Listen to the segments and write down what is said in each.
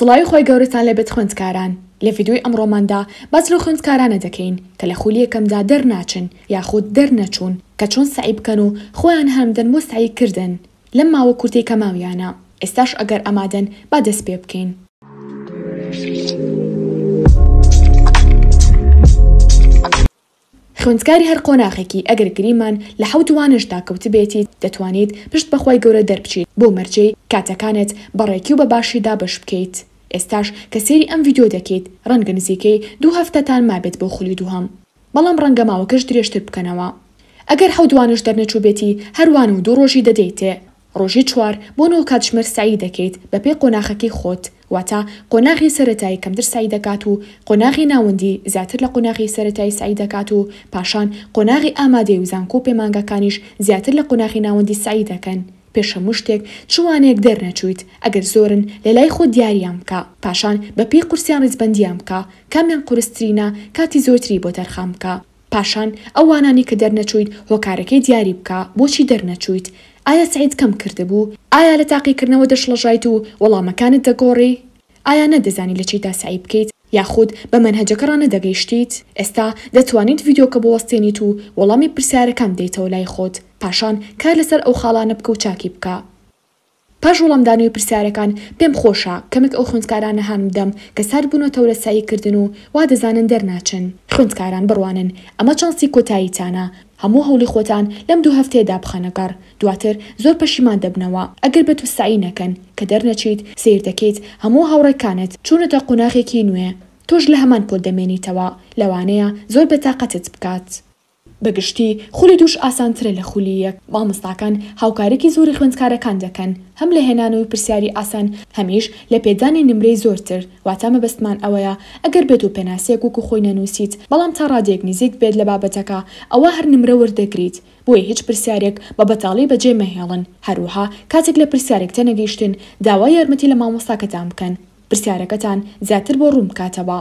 سڵاوی خوای گەورەتان لێبێت خوێندکاران، لە ڤیدیۆی ئەمڕۆماندا باس لەو خوێندکارانە دەکەین کە لە خولی یەکەمدا دەرناچن یاخود دەرنەچوون کە چۆن سەعی بکەن و خۆیان هانبدەن بۆ سەعی کردن لەم ماوە کورتەی کە ماویانە ئێستاش ئەگەر ئامادەن با دەست پێ بکەین. خوێندکاری هەر قۆناخێکی ئەگەر گریمان لە حەوت وانەشدا کەوتبێتیت دەتوانیت پشت بەخوای گەورە دەربچیت بۆ مەرجی کاتەکانت بە ڕێکی و بە باشی دابەش بکەیت ئێستاش کە سەیری ئەم ڤیدیۆ دەکەیت ڕەنگە نزیکەی دوو هەفتەتان مابێت بۆ خولی دووهەم بەڵام ڕەنگە ماوەکەش درێژتر بکەنەوە ئەگەر حەوت وانەش دەرنەچوبێتی هەر وانە و دوو ڕۆژی دەدەیتێ ڕۆژی چوار بۆ نۆ کاتژمێر سەعی دەکەیت بەپێی قۆناخەکەی خۆت، واتە قۆناغی سەرەتایی کەمتر سەعی دەکات و قۆناغی ناوەندی زیاتر لە قۆناغی سەرەتایی سەعی دەکات و پاشان قۆناغی ئامادەیی و زانکۆ و پەیمانگاکانیش زیاتر لە قۆناخی ناوەندی سەعی دەکەن پێش هەموو شتێک چ وانەیەک دەرنەچوویت ئەگەر زۆرن لەلای خۆت دیاریان بکە پاشان بەپێی قورسیان ڕیزبەندیان بکە کامیان قورسترینە کاتی زۆرتری بۆ تەرخان بکە پاشان ئەو وانانەی کە دەرنەچوویت هۆکارەکەی دیاری بکە بۆچی دەرنەچوویت؟ ئایا سەعیت کەم کردبوو؟ ئایا لە تاقیکردنەوە دەشڵەژایت و وەڵامەکانت دەگۆڕی؟ ئایا نەدەزانی لە چیدا سەعی بکەیت یاخود بە مەنهەجەکە ڕانەدەگەیشتیت؟ ئێستا دەتوانیت ڤیدیۆکە بوەستێنیت و وەڵامی پرسیارەکان بدەیتەوە لای خۆت، پاشان کار لەسەر ئەو خاڵانە بکە و چاکی بکە. پاش وەڵامدانەوەی پرسیارەکان، پێم خۆشە کەمێک ئەو خوێندکارانە هان بدەم کە سارد بوونەتەوە لە سەعیکردن و وا دەزانن دەرناچن. خوێندکاران بڕوانن ئەمە چانسی کۆتاییتانە، هەموو هەوڵی خۆتان لەم دوو هەفتەیەدا بخەنە گەڕ، دواتر زۆر پەشیمان دەبنەوە ئەگەر بەتو سەعی نەکەن. کە دەرنەچیت، سەیر دەکەیت هەموو هاوڕێکانت چوونەتە قۆناغێکی نوێ، تۆش لە هەمان پۆل دەمێنیتەوە، لەوانەیە زۆر بێتاقەتت بکات. بە گشتی خولی دووش ئاسانترە لە خولی یەک، مامۆستاکان هاوکاریکی زۆری خوێندکارەکان دەکەن هەم لە هێنانەوەی پرسیاری ئاسان هەمیش لە پێدانی نمرەی زۆرتر، واتا مەبەستمان ئەوەیە ئەگەر بێتو پێناسەیەک وەکو خۆی نەنوسیت بەڵام تا ڕادەیەک نزیکت بێت لە بابەتەکە ئەوا هەر نمرە وەردەگریت، بۆیە هیچ پرسیارێک بە بەتاڵی بەجێ مەهێڵن، هەروەها کاتێک لە پرسیارێک تێنەگەیشتن داوای یارمەتی لە مامۆستاکەتان بکەن پرسیارەکەتان زیاتر بۆ ڕوون بکاتەوە.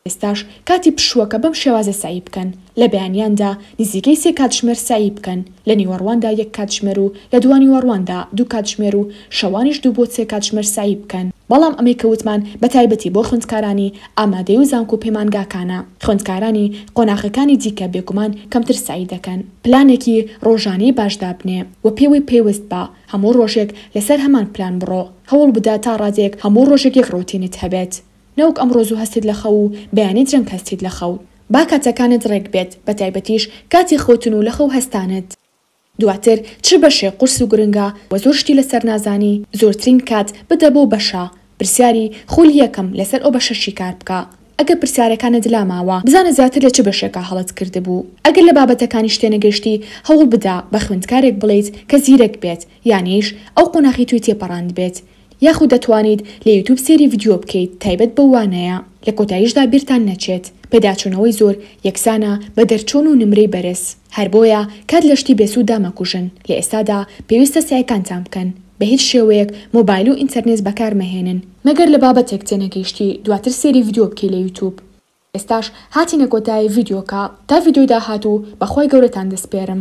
ئێستاش کاتی پشووەکە بەم شێوازە سەعی بکەن، لە بەیانیاندا نزیکەی سێ کاتژمێر سەعی بکەن، لە نیوەڕواندا یەک کاتژمێر و لە دوانیوەڕواندا دوو کاتژمێر و شەوانیش دوو بۆ سێ کاتژمێر سەعی بکەن، بەڵام ئەمەی کە وتمان بە تایبەتی بۆ خوێندکارانی ئامادەیی و زانکۆ و پەیمانگاکانە، خوێندکارانی قۆناغەکانی دیکە بێگومان کەمتر سەعی دەکەن. پلانێکی ڕۆژانەی باش دابنێ و پێوەی پەیوەست بە، هەموو ڕۆژێک لەسەر هەمان پلان بڕۆ، هەوڵبدە تا ڕادەیەک هەموو ڕۆژێک یەک ڕۆتینت هەبێت، نەوەک ئەم ڕۆز و هەستیت لە خەو و بەیانی درەنگ هەستیت لە خەوت با کاتەکانت ڕێک بێت بەتایبەتیش کاتی خەوتن و لەخەو هەستانت دواتر چ بەشێک قورس و گرنگە وە زۆر شتی لەسەر نازانی زۆرترین کات بدە بەو بەشە پرسیاری خولی یەکەم لەسەر ئەو بەشە شیکار بکە ئەگەر پرسیارەکانت لا ماوە بزانە زیاتر لە چ بەشێکا هەڵەت کردبوو ئەگەر لە بابەتەکانیش تێنەگەشتی هەوڵ بدە بە خوێندکارێک بڵێیت کە زیرەک بێت یانیش ئەو قۆناخی تۆی تێپەڕاندبێت یاخود دەتوانیت لە یوتوب سێری ڤیدیۆ بکەیت تایبەت بەو وانەیە لە کۆتایشدا بیرتان نەچێت پێداچونەوەی زۆر یەکسانە بە دەرچون و نمرەی بەرز هەر بۆیە کات لە شتی بێسودا مەکوژن لە ئێستادا پێویستە سەعیکانتان بکەن بە هیچ شێوەیەک مۆبایل و ئینتەرنێز بەکار مەهێنن مەگەر لە بابەتێک تێنەگەیشتی دواتر سێری ڤیدیۆ بکەی لە یوتوب ئێستاش هاتینە کۆتایی ڤیدیۆکە تا ڤیدیۆی داهاتو بەخوای گەورەتان دەسپێرم.